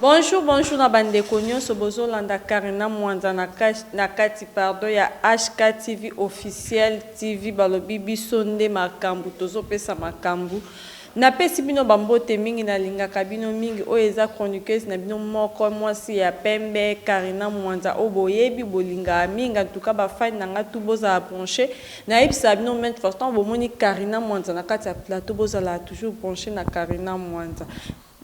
Bonjour, bonjour na bandeko nyonso bozolanda Karina Mwanza na, na kati pardon ya HK TV officiel TV balobi biso nde makambu tozopesa makambu napesi bino bambote mingi nalingaka bino mingi oyo eza chroniqueuse na bino moko mwasi ya pembe Karina Mwanza oyo boyebi bolingaka mingi antuka bafani na ngai tu bozala branche Na yebisaka bino maintes fois tango bo moni Carina Mwanza na kati ya plateau bo zala toujours branche na Carina Mwanza.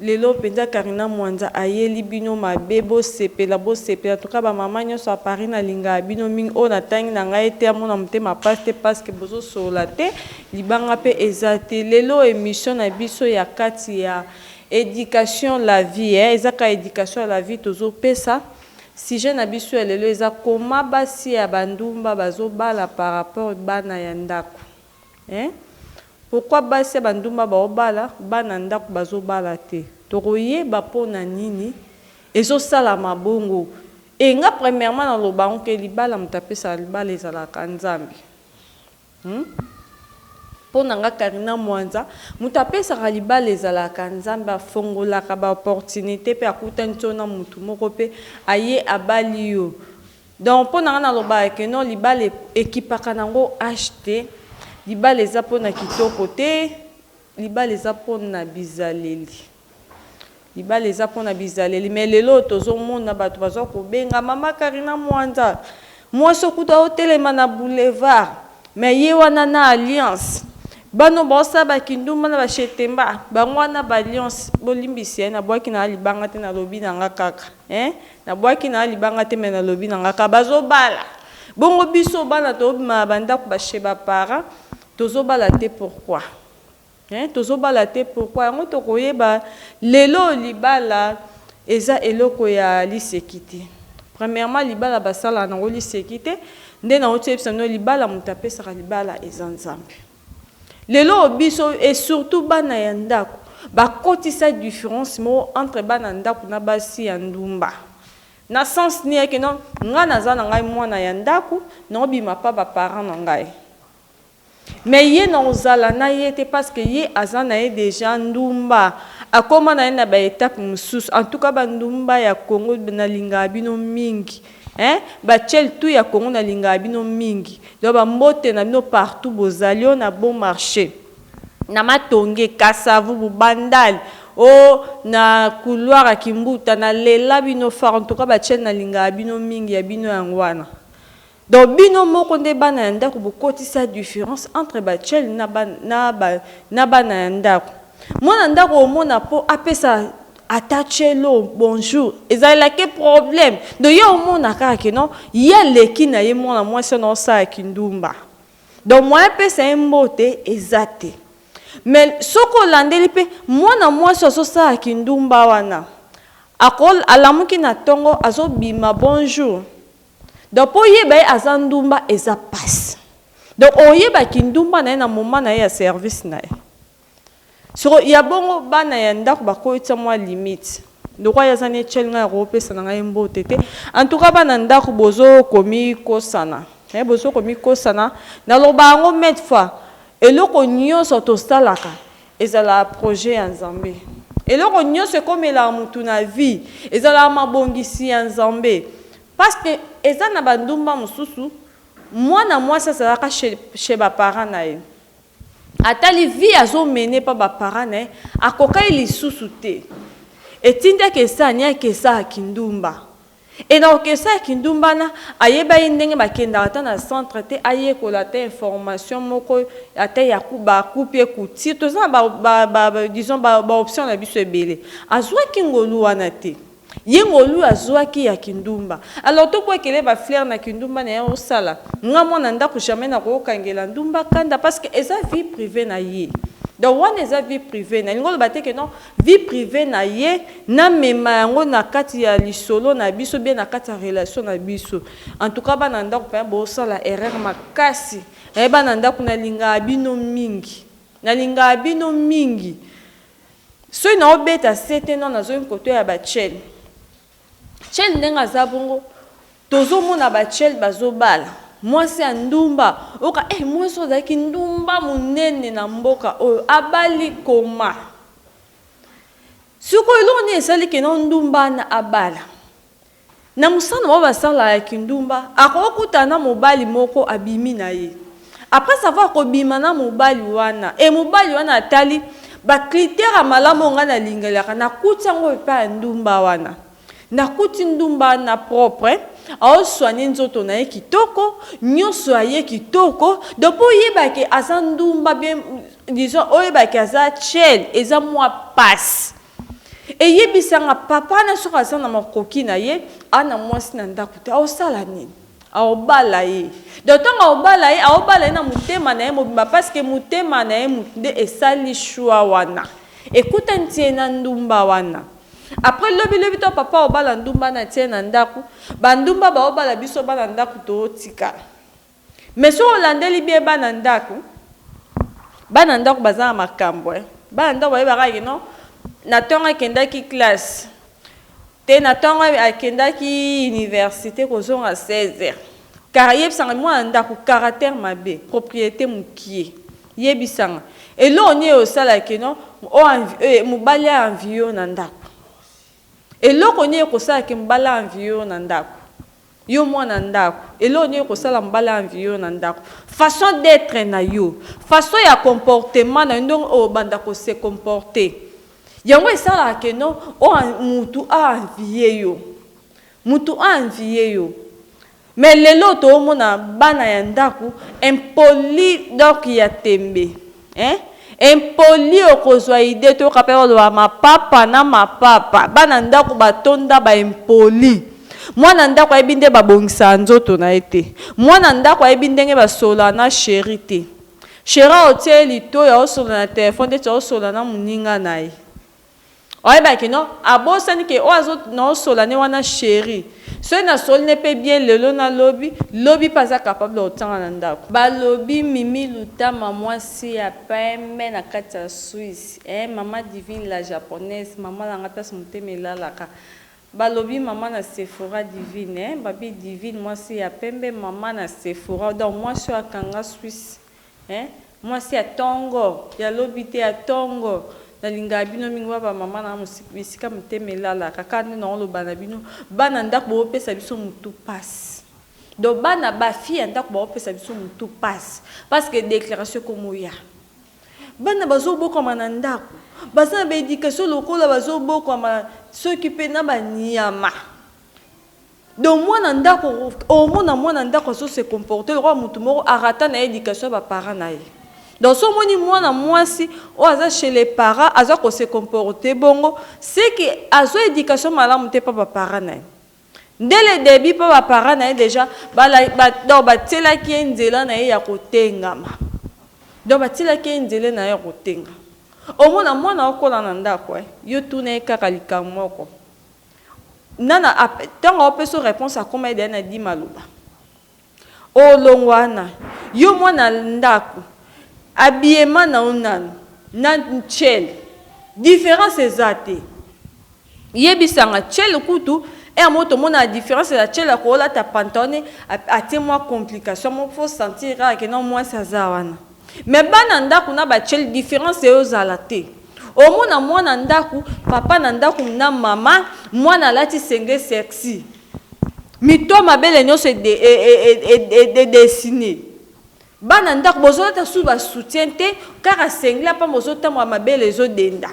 Lelo penza Carina Mwanza ayeli bino mabe bo sepela bo sepela en tout cas ba maman nionso ya Paris na lingaka bino mingi oyo na tangi na ngai te amona motema pasi te pasque bozo solola te libanga pe eza te lelo emission na biso ya kati ya education la vie eh eza kaka education ya la vie tozo pesa Sujet na biso ya lelo eza comment basi ya ba ndumba bazo bala par rapport bana ya ndaku hein pourquoi basi ya ba ndumba bao bala bana ya ndaku bazo bala te toko yeba pona nini ezo salama bongo et nga premièrement na loba yango ke libala mutu apesaka libala ezalaka nzambe Hum pona nga carina mwanza mutu apesaka libala ezalaka nzambe afongolaka ba opportunite pe akutani so na mutu moko pe aye abali yo donc pona nga nalobaka que non libala ekipaka na ngo age te libala eza pona kitoko te libala eza pona bizaleli Libala eza pona bizaleli mais lelo oyo tozo mona batu bazo ko benga mama Carina Mwanza mwasi oyo kutu azo telema na boulevard mais ye wana na alliance bana oyo bazo sala ba kindumba na ba chez Temba bango wana na ba alliance bo limbisi hein na buaki na nga libanga te na lobi na nga kaka hein na buaki na nga libanga te mais na lobi na nga kaka bazo bala bongo biso bana tozo bima na ba ndaku ba chez ba parents tozo bala te pourquoi? Hein tozo bala te pourquoi yango toko yeba lelo libala eza eloko ya liseki te premièrement libala ba salaka nango liseki te nde na wuti yebisa bino libala mutu apesaka libala eza nzambe lelo oyo biso et surtout bana ya ndaku ba kotisa difference moko entre bana ndaku na basi ya ndumba na sens nini eke non ngai naza na ngai muana ya ndaku nao bima pa ba parents na ngai Mais ye nako zala na ye te parce que ye aza na ye dejà ndumba akoma na ye na ba etape mususu en tout cas ba ndumba ya Congo na lingaka bino mingi hein ba tshel tout ya Congo na lingaka bino mingi donc ba mbote na bino partout bozali oh na bon marche na matonge kasa vubu bandal oh na couloir ya kimbuta na lela bino fort en tout cas ba tshel na lingaka bino mingi ya bino yango wana Donc bino moko nde bana ya ndaku bo kotisa difference entre ba tshel na ba na ba na bana ya ndaku. Mwana ndaku omona po apesa ata tshelo bonjour ezalela ke problème donc yo omona kaka ke non ye aleki na ye mwana mwasi wana osala kindumba donc moyen pesa ye mbote eza te mais soki olandeli pe mwana mwasi azo sala kindumba wana ako alamuki na tongo azo bima bonjour Donc po oyeba ye aza ndumba eza pasi. Donc oyeba kindumba na ye na moment na ye ya service na ye. Sikoyo ya bongo bana ya ndako bakotisa mua limite. Lokola ye aza netiel ngai akopesa na ngai mbote te. En tout cas bana ndako bozo komikosana eh bozo komikosana. Naloba yango maintes fois eloko nionso tosalaka Ezala projet ya Nzambe. Eloko nionso ekomelaka mutu na vie ezalaka mabongisi ya Nzambe pasque eza na ba ndumba mususu muana muasi azalaka chez ba parents na ye atali vie azo mener pa ba parents na ye akokaki lisusu te etindaki esaniaki esaka kindumba. Et na orchestre ya kindumba na ayeba ye ndenge ba kendaka ata na centre te ayekola ata information moko ata ya ku ba coup pied coup tire toza na ba ba disons ba ba option na biso ebele azuaki ngolu wana te ye ngolu oyo azuaki ya kindumba alors to buakela ye ba flaire na kindumba na ye osala nga muana ndaku jamais na ko kangela ndumba kanda parce que eza vie privee na ye donc wana eza vie privee na ye elingi oloba te que non vie privee na ye na mema yango na kati ya lisolo na biso bien na kati ya relation na biso en tout cas bana ndaku pena bo sala erreur makasi eh bana ndaku na lingaka bino mingi na lingaka bino mingi soki na obeta sete non na zongi koto ya ba chaine Tshel ndenge aza bongo tozomona ba tshel bazobala mwasi ya ndumba oka eh mwasi oyo azalaki ndumba monene na mboka oyo abali koma sikoyo eloko nini esali ke na ndumba wana abala na mosala na bango basalaka ya kindumba akoki kokutana na mobali moko abimi na ye Après avoir kobima na mobali wana et mobali wana atali ba critères ya malamu oyo ngai nalingelaka, nakuti yango epai ya ndumba wana. Nakuti ndumba wana propre, ao soigner nzoto na ye kitoko, nionso ya ye kitoko, donc po oyeba ke aza ndumba bien disons oyeba ke aza tchel eza mua pasi. Eyebisa nga papa wana soki aza na makoki na ye a na mwasi na ndako te aosala nini? Aobala ye donc ntango aobala ye aobala ye na motema na ye mobimba parce que motema na ye motu nde esali choix wana ekutani ti ye na ndumba wana après lobi lobi to papa aobala ndumba na tie na ndako ba ndumba baobala biso bana ndako tootikala Mais soki olandeli bien bana ndaku, bana ndaku baza na makambu hein, bana ndaku bayebaka que non na tangu akendaki classe tee na tangu akendaki universite kozonga 16 heures kara yebisanga mwana ndaku caractère mabe propriete mukie yebisanga eloko nini osala que non mobali a envie yo na ndaku eloko nini ekosala que mobali a envie yo na ndaku Yo muana ndaku eloko nini ekosala mobali a envier yo na ndaku? Façon d'etre na yo, façon ya comportement na yo ndenge obanda ko se comporter yango esalaka que no o mutu a envier yo, mutu a envier yo mais lelo oyo tozomona bana ya ndaku impoli donc ya tembe. Hein impoli okozua idee toyoka pe oloba mapapa na mapapa bana ndaku batonda ba impoli mwana ndaku ayebi nde ba bongisaka nzoto na ye te mwana ndaku ayebi ndenge ba solola na cherie te cherie aotie ye litoyi aosolola na telephone ndeti aosolola na muninga na ye. Oyebaka que non abosani que oyo azo nao sola ne wana cherie soki na soli ne pe bien lelo na lobi lobi pe aza capable ya otanga na ndaku. Balobi mimi lutama mwasi ya pembe na kati ya suisse eeh maman divine la japonaise maman na nga place motema elalaka balobi maman na sephora divine eeh babi divine mwasi ya pembe maman na sephora donc mwasi oyo akanga suisse Hein mwasi ya tongo ya lobi te ya tongo na lingaka bino mingi wana ba maman nanga bisika motema elalaka kaka nde nao loba na bino bana ndaku bo pesa biso mutu pasi donc bana ba fille ya ndaku bao pesa biso mutu pasi parce que declaration ekomo ya bana bazo bokwama na ndaku baza na ba education lokola bazo bokwama soki pe na ba niama Donc mwana ndako omona mwana ndako azo se comporter lokola mutu moko a rata naye education ya ba parents naye. Donc soki omoni mwana mwasi oyo aza chez les parents aza ko se comporter bongo ce que azwa education malamu te epa ba parents naye. Dès le debut epa ba parents naye dejà donc ba tielaki ye nzela naye ya ko tengama. Donc ba tielaki ye nzela naye ya ko tengama. Omona mwana akola na ndako hein yo tuna ye kaka likambo moko. Nana tango ao peso reponse akoma ye deja na dit maloba olongwa wana yo mwana ndaku habillement na yo nanu na ntshele difference eza te yebisanga ntshele kutu heure moko tomonaka difference ya ntshele akolata pantalone atie mwa complication moko fo sentir kaka ke non mwasi aza wana. Mais bana ndaku na ba cel difference eyo zala te omona mwana ndaku papa na ndaku na maman mwana alati sengle sexy mito mabele nioso e dessiner bana ndaku bozo lata su ba soutien te kaka sengle apamba ozo tambola mabele ezo denda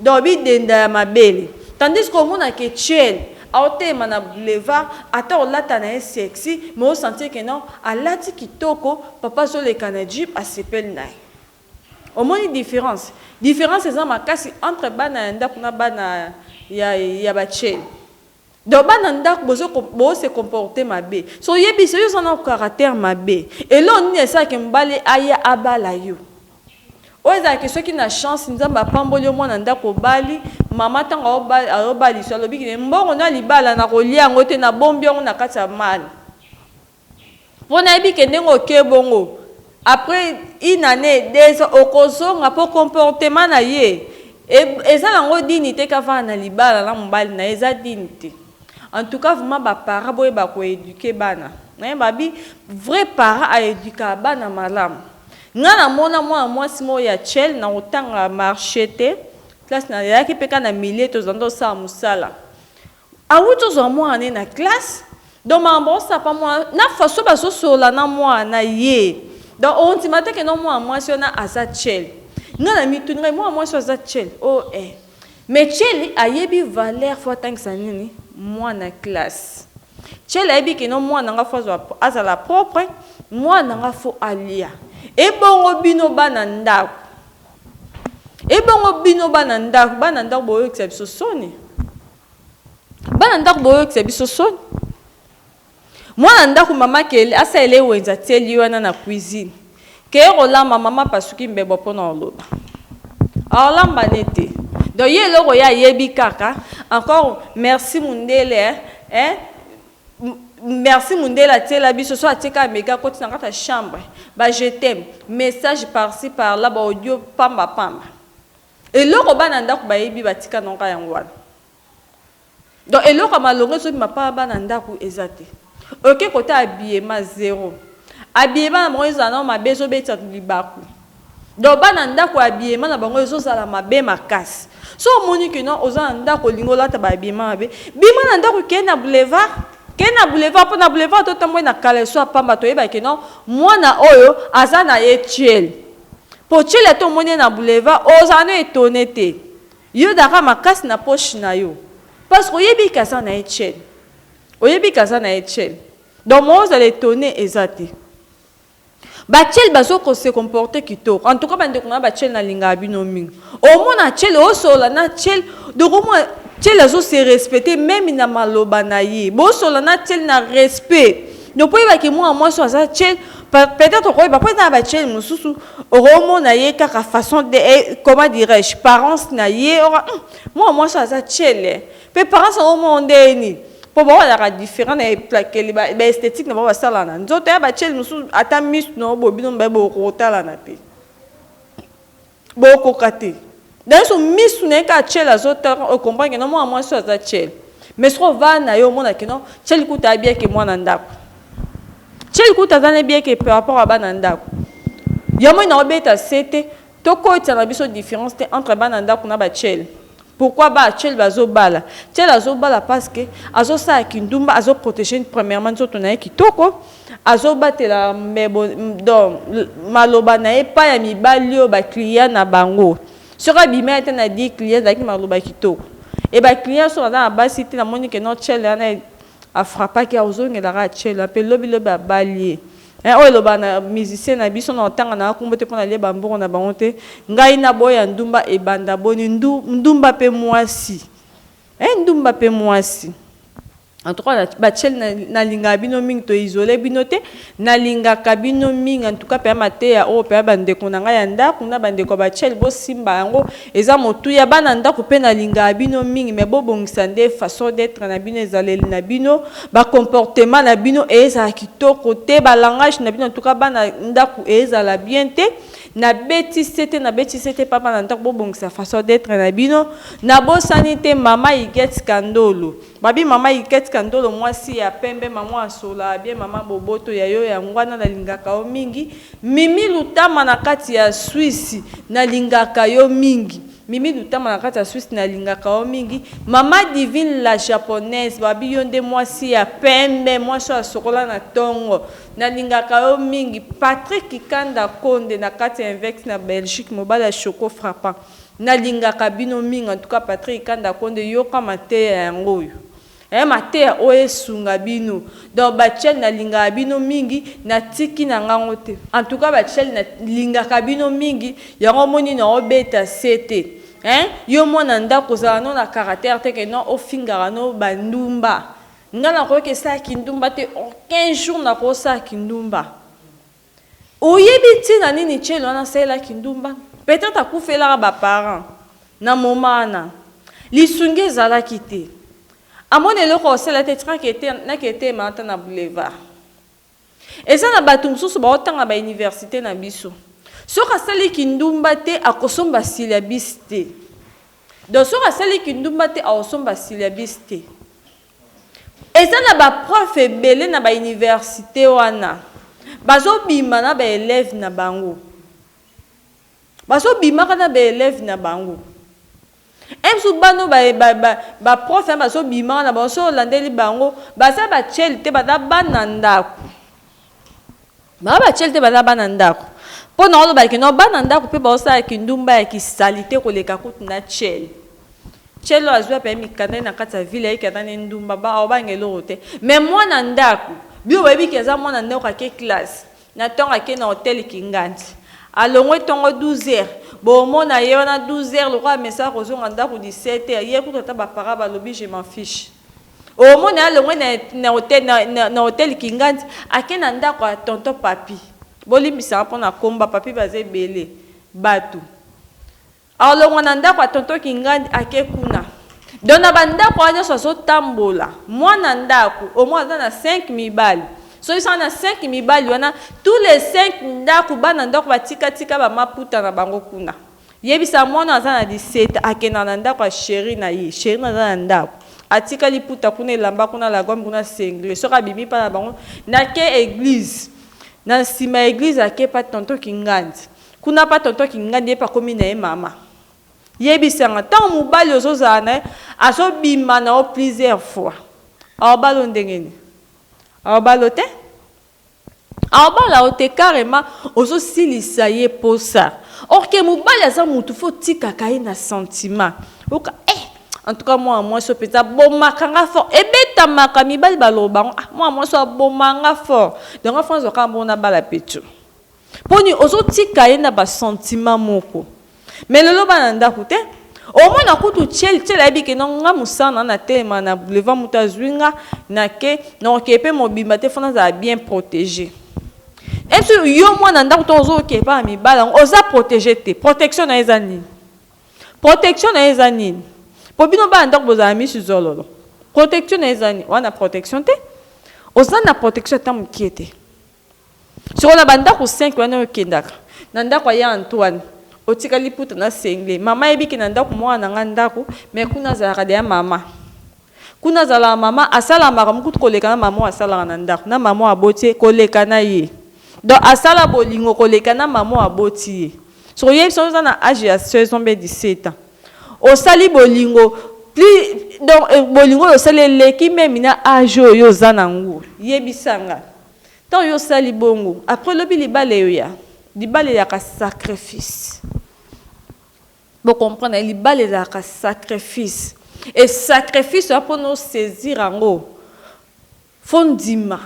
Donc bi denda ya mabele. Tandis que omona que tshel azo telema na boulevard ata olata na ye sexy mais o sentir que non alati kitoko papa azo leka na jeep asepeli na ye. Omoni difference? Difference eza makasi entre bana ya ndaku na bana ya ba tshel. Donc bana ndaku bozo bo se comporter mabe so oyebi soki oza na caractère mabe eloko nini esala ke mobali aya abala yo oyo ezala ke soki na chance nzambe apamboli yo mwana ndaku obali maman tango azo baliso alobi ke mbongo na libala na kolia yango te na bombi yango na kati ya mal Po nayebi ke ndenge oke bongo après une annee deux ans okozonga po comportement naye eza nango digni te ke avanda na libala na mobali naye eza digni te en tout cas vraiment ba parents boyeba ko eduquer bana hein ba bi vrai parents a eduquaka bana malamu nga na mona mwana mwasi moko ya cel na kotanga marche te classe na yaki pe kaka na milieu tozalaki kosala musala Awuti ozwa mwana ne na classe donc makambo bao sapa mwana na façon bazo solola na mwana na ye donc ondima te que non mwana mwasi wana aza tshele nga na mituni ngai mwana mwasi oyo aza tshele oh eh mais tshele ayebi valeur faut atangisa nini mwana classe tshele ayebi que non mwana nga faut azwa azala propre mwana nga faut alia ebongo bino bana ndako Ebongo bino bana ndaku, bana ndaku boyokisa biso soni. Bana ndaku boyokisa biso soni. Mwana ndaku mama kele asalela ye wenze atieli ye wana na cuisine. Keye kolamba mama apasuki mbebo mpo na koloba. Akolamba ne te. Donc ye eloko ye ayebi kaka encore merci mundele eh Merci mundele atiela biso soki atie kaka mega akoti na kati ya chambre ba je t'aime message par ci par là ba audio pamba pamba eloko bana ndaku bayebi batika na kaka yango wana donc eloko ya malonga ezobima pa bana ndaku eza te oke kota habillement zero habillement na bango ezala nao mabe ezobetisa libaku Donc bana ndako habillement na bango ezo zala mabe makasi. Soki omoni que non oza na ndako olingi olata ba habillement mabe, bima na ndako kende na boulevard, kende na boulevard po na boulevard to tamboli na caleçon ya pamba to yeba que non mwana oyo aza na ye tshele. Po tshele ata omoni ye na boulevard ozala na etonne te. Yo daka makasi na poche na yo parce que oyebi que aza na ye tshele. Oyebi que aza na ye tshele. Donc moyen ozala etonne eza te. Ba chel bazo ko se comporter kitoko. En tout cas ba ndeko na ba chel na lingaka bino mingi. Omona chel o solola na chel donc omona chel azo se respecter meme na maloba na ye. Bo solola na chel na respect. Donc po oyeba ke mwana mwasi oyo aza chel peut-etre okoyeba po eza na ba chel mosusu okomona ye kaka façon de comment dirais-je parents na ye oko hum mwana mwasi oyo aza chel eh. Preparence yango moko ndenge nini? Po bango bazalaka different na eplakeli, ba esthetique na bango basalaka na nzoto, yaba chez mosusu ata misu na yo boye bino mibale bokoka kotalana te, bokoka te. Dans le sens misu na ye kaka chez azo tala o comprendre que non mwana mwasi oyo aza chez, mais soki ovandi na ye omona que non chez kutu ayebi ye que mwana ndaku, chez kutu aza na ye bien que par rapport ya bana ndaku. Yango nini nao beta sete To kotisa na biso difference te entre bana ndaku na ba tshel pourquoi ba tshel bazo bala tshel azo bala parce que azo sala kindumba azo proteger premièrement nzoto naye kitoko azo batela mbebo donc maloba naye epai ya mibali oyo ba clients na bango soki abimeli ata na 10 clients ezalaki maloba kitoko et ba clients soki baza na basi te na moni que non tshel wana a frappaki ozongela kaka tshel wana pe lobi lobi abali ye. Hein oyo elobaka na musicien na biso na otanga nanga kombo te pona lia ba mbongo na bango te ngai na boya ndumba ebanda boni ndu ndumba pe muasi hein ndumba pe muasi en tout cas ba tshel na na lingaka bino mingi to isole bino te na lingaka bino mingi en tout cas pea mateya oyo pea ba ndeko na ngai ya ndaku na ba ndeko ya ba tshel bo simba yango Eza motuya bana ndaku pe na lingaka bino mingi mais bo bongisa nde façon d'etre na bino ezaleli na bino ba comportement na bino ezala kitoko te ba langage na bino en tout cas bana ndaku ezala bien te na beti sete na beti sete pa bana ndaku bo bongisa façon d'etre na bino na bosani te mama Huguette Kandolo Mabi maman iket kandolo mwasi ya pembe mamu asola bien maman boboto ya yo yango wana na lingaka yo mingi mimi lutama na kati ya swisi na lingaka yo mingi mimi lutama na kati ya swisi na lingaka yo mingi maman divine la japonaise babi yo nde mwasi ya pembe mwasi oyo asokola na tongo na lingaka yo mingi patrick kikanda konde na kati ya invex na belgique mobali ya choco frappant Na lingaka bino mingi en tout cas Patrick kanda konde yoka mateya yango oyo eh mateya oyo esunga bino donc ba tshel na lingaka bino mingi na tiki na nga ngo te en tout cas ba tshel na lingaka bino mingi yango omoni na o beta se te hein yo muana ndaku ozala no na carater te ke no ofingaka no ba ndumba nga na koki ke sala kindumba te aucun jour na ko sala kindumba. Oyebi tina nini ceni wana asalela kindumba? Peut etre akufelaka ba parents na moment wana lisungi ezalaki te. Amoni eloko akosala te atika na ketema ata na boulevard. Eza na batu mususu bao tanga ba universite na biso soki asali kindumba te akosomba syllabus te. Donc soki asali kindumba te akosomba syllabus te. Eza na ba prof ebele na ba universite wana bazo bima na ba elève na bango bazo bimaka na ba elève na bango un jour bana oyo ba ba ba prof na bazo bimaka na bango soki olandeli bango baza ba chel te baza bana ndaku Ba bachel te baza bana ndaku po na oloba ke no bana ndaku pe baosala kindumba ya kisalite koleka kutu na chel chel oyo azwi ape mikanda ye na kati ya ville ayeke ata ne ndumba ba obanga eloko te mais mwana ndaku bino boyebi ke aza mwana ndaku ake classe na tongo ake na hotel kingandi alongwe tongo 12 heures bomona ye wana 12 heures lokola amesana kozonga ndaku 17 heures ye kutu ata ba parents balobi je m'en fiche Omoni alongwe na na hotel na na hotel kingandi ake na ndaku ya tonton papy bolimbisa nga pona kombo ba papy baza ebele batu alongwa na ndaku ya tonton kingandi ake kuna donc na ba ndaku wana nionso azo tambola muana ndaku au moins aza na cinq mibali soki sa na cinq mibali wana tous les cinq ndaku bana ndaku ba tika tika ba maputa na bango kuna Yebisa mwana aza na 17 ans akenda na ndaku ya cherie na ye cherie naza na ndaku atika liputa kuna elamba kuna lagomme kuna singlet soki abimi epa na bango nake eglise na sima ya eglise ake epa tonton kingandi kuna pa tonton kingandi yepe akomi na ye mama yebisa nga tango mobali ozo zala na ye azo bima na yo plusieurs fois aobalo ndenge nini aobalo te Abala yo te carrement ozo silisa ye posa or que mobali aza mutu faut otikaka ye na sentiment oyoka eh en tout cas muana muasi oyo penza abomaka nga fort ebetamaka mibali baloba ngo ah muana muasi oyo aboma nga fort donc nga faut nazua kaka bongo nabala pecho. Poni ozo tika ye na ba sentiment moko mais lelo bana ndaku te omona kutu tshel tshel ayebi ke non nga musana na telema na boulevard mutu azui nga na ke noko ke pe mobimba te fo nazala bien protege est ce yo muana ndaku tango ozo ke epa na mibali yango oza protege te protection nayo eza nini protection nayo eza nini po bino bana ndaku bozala misu zololo protection nayo eza nini oza na protection te oza na protection ata mukie te Sikoyo na ba ndaku cinq wana oyo okendaka na ndaku ya ya Antoine otika liputa na singlet maman ayebi ke na ndaku muana na ngai ndaku mais kuna azalaka dejà maman kuna azalaka maman asalaka makambo kutu koleka na maman oyo asalaka na ndaku na maman oyo aboti ye koleka na ye donc asala bolingo koleka na maman oyo aboti ye sikoyo yo yebisa oza na age ya 16 ans be 17 ans osali bolingo plus donc bolingo oyo osali eleki meme na age oyo yo oza na yango yebisa nga. Tango yo osali bongo après lobi libala eoya libala elaka sacrifice bo comprendre libala elaka sacrifice et sacrifice oya pona o saisir yango fo ndima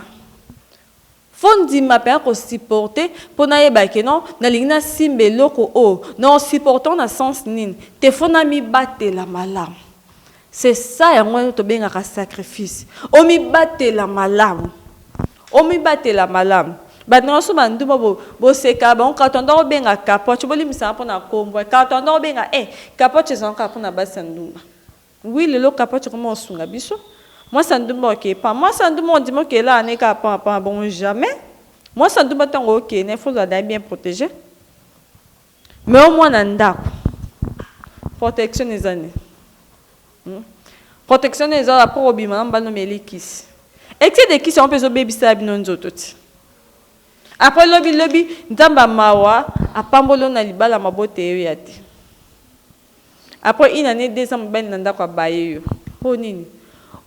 fo ndima mpenza ko supporter mpo nayeba ke non nalingi nasimba eloko oyo na o supportant na sens nini te fo namibatela malamu C'est ça yango tobengaka sacrifice. Omibatela malamu. Omibatela malamu. Bato na biso bandumba bo, bosekala bango kaka tanda kobenga kapoche bolimbisanga mpo na kombo eh, kaka tanda kobenga eh, kapoche ezalaka kaka mpo na basi ya ndumba wi lelo kapoche ekoma kosunga biso mwasi ya ndumba okeye pa mwasi ya ndumba ondimi okeye laa ne kaka paa paa bongo jamais mwasi ya ndumba ntango okeye na efo ozala na ye bien protege Mais yo mwana ndaku protection eza nini? Hum protection nde eza après obima na mobali omeli kisi excès de kisi yango mpe ezobebisela bino nzoto ti après lobi lobi nzambe ya mawa apamboli yo na libala maboteyo ya te Après une annee deux ans mobali na ndako abaye yo po nini?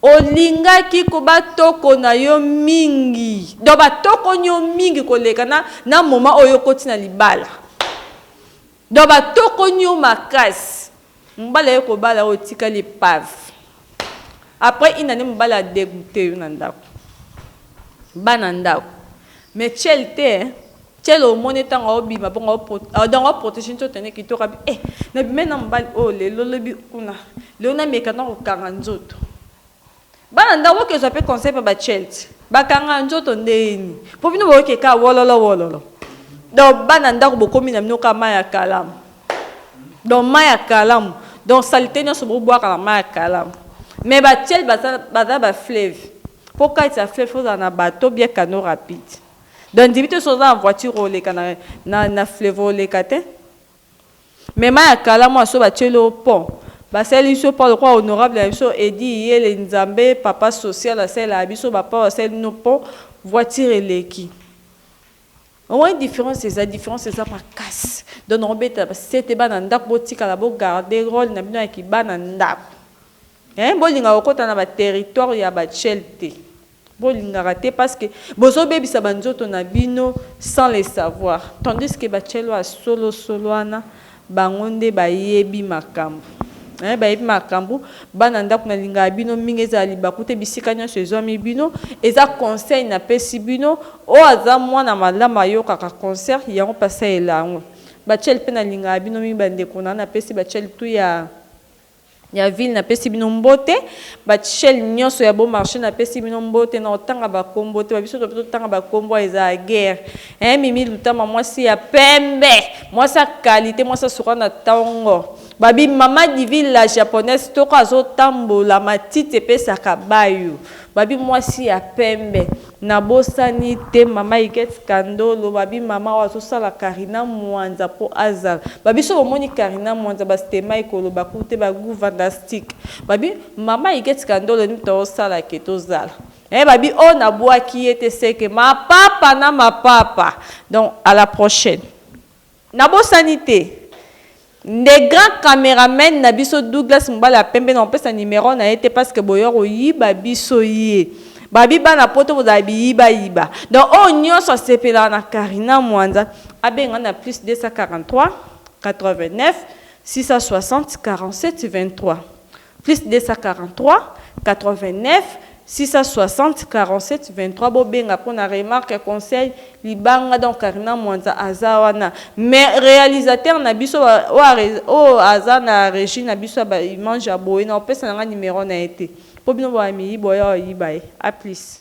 Olingaki ko ba toko na yo mingi donc ba tokoni yo mingi koleka na na moment oyo okoti na libala donc ba tokoni yo makasi mobali aye kobala yo otikali epave. Après une annee mobali a degoute yo na ndaku. Bana ndaku. Mais tshel te hein. Tshel omoni ye tangu azo bima bongo azo donc azo proteger nzoto na ye kitoko abi eh na bimeli na mobali oyo lelo lobi kuna lelo na meka na ko kanga nzoto. Bana ndaku bo kezua pe conseil pa ba tshel te. Ba kanga nzoto ndenge nini? Po bino bo yoki kaka wololo wololo. Donc bana ndaku bo komi na bino kaka mayi ya kalamu. Donc mayi ya kalamu. Donc salite nionso bo bwaka na mayi ya kalamu. Mais ba tshel baza baza ba fleuve. Po kati ya fleuve faut ozala na bateau ou bien canaux rapide. Donc ndimi te soki oza na voiture oleka na na na fleuve oleka te. Mais mayi ya kalamu wana soki ba tsheli yo pont ba saleli biso pont lokola honorable na biso Eddy Iyele Nzambe papa social asalelaka biso ba pont ba saleli bino pont voiture eleki. Omoni difference eza difference eza makasi donc na obetela ba sete bana ndako botikala bo garde role na bino ya ki bana ndako hein bolinga kokota na ba territoire ya ba tshel te bolingaka te parce que bozo bebisa ba nzoto na bino sans le savoir tandis que ba tshel oyo ya solo solo wana Bango nde bayebi makambu. Eeh bayebi makambu bana ndaku na lingaka bino mingi ezala libaku te bisika nionso ezuami bino eza conseil na pesi bino oyo aza muana malamu ayokaka concert yango pasi alela yango ba chel pe na lingaka bino mingi ba ndeko na nga na pesi ba chel tout ya Ya ville na pesi bino mbote ba chel nioso ya bo marche na pesi bino mbote na otanga ba kombo te ba biso to peto tanga ba kombo a eza guerre eh mimi lutama mwasi ya pembe mwasi ya qualite mwasi ya suka na tongo ba bi mama divine la japonaise toko azo tambola matiti epesaka bayo ba bi mwasi ya pembe Na bosani te mama Huguette Kando loba bi mama oyo azo sala Carina Mwanza po azala ba bi soki omoni Carina Mwanza ba stemay ko loba ku te ba gout vandastic ba bi mama Huguette Kando lo nini to sala ke to zala eh ba bi oh na bwaki ye te ce que mapapa na mapapa donc à la prochaine. Nabosani te nde grand cameraman na biso Douglas mobali ya pembe na kopesa numero na ye te parce que boya koyiba biso ye babi bana poto bozala biyiba yiba donc oyo nionso asepelaka na Carina Mwanza abenga nga na plus 243 89 660 47 23 Plus 243 89 660 47 23 bobenga pona remarque conseil libanga donc carina mwanza aza wana mais realisateur na biso oyo aza na regie na biso ya ba image ya boye nakopesa nanga numero na ye te po bino boya miyibi oya oyiba ye aplis.